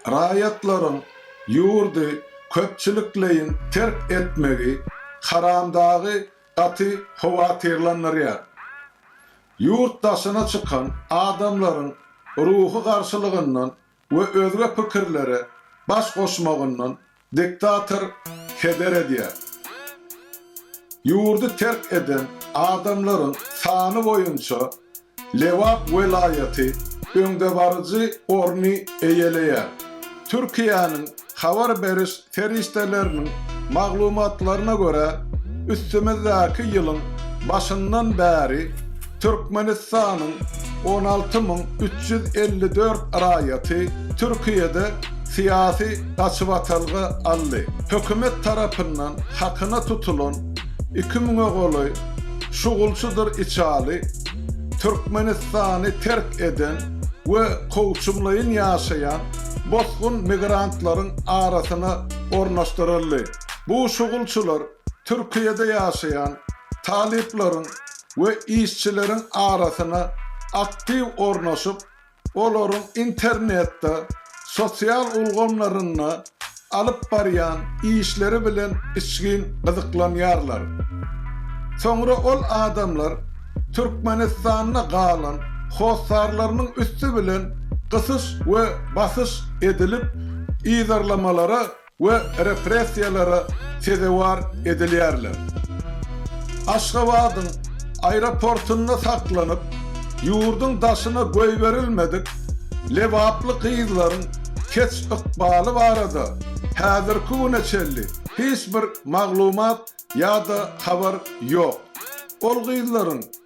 Raýatlaryň ýurdy köpçülikleýin terk etmegi Haramdagy gaty howatyrlandyrýar. Ýurt daşyna çykan adamlaryň ruhy garşylygyndan we özge pikirlere baş goşmagyndan Diktator heder edýär. Ýurdy terk eden adamlaryň sany boýunça Lebap welaýaty öňdebaryjy orny eýeleýär. Türkiýäniň habar beriş serişdeleriniň maglumatlaryna görä, üstümizdäki ýylyň başyndan bäri, Türkmenistanyň on alty müň üç ýüz elli dört raýaty Türkiýede syýasy gaçybatalga aldy. Hökümet tarapyndan hakyna tutulan iki müňe golaý şugulçydyr içaly Türkmenistany terk eden we kowçumlaýyn ýaşaýan bosgun migrantlaryň arasyna ornaşdyryldy. Bu şugulçylar Türkiýede ýaşaýan talyplaryň we işçileriň arasyna aktiw ornaşyp, olaryň internetde, sosial ulgamlarynda alyp barýan işleri bilen içgin gyzyklanýarlar. Soňra ol adamlar Türkmenistanda galan hossarlarynyň üsti bilen gysyş we basyş edilip yzarlamalara we repressiýalara sezewar edilýärler. Aşgabadyň aeroportunda saklanyp, ýurduň daşyna goýberilmedik lebaply gyzlaryň kes-ykbaly barada häzirki güne çenli hiç bir maglumat ýa-da habar ýok. Ol gyzlaryň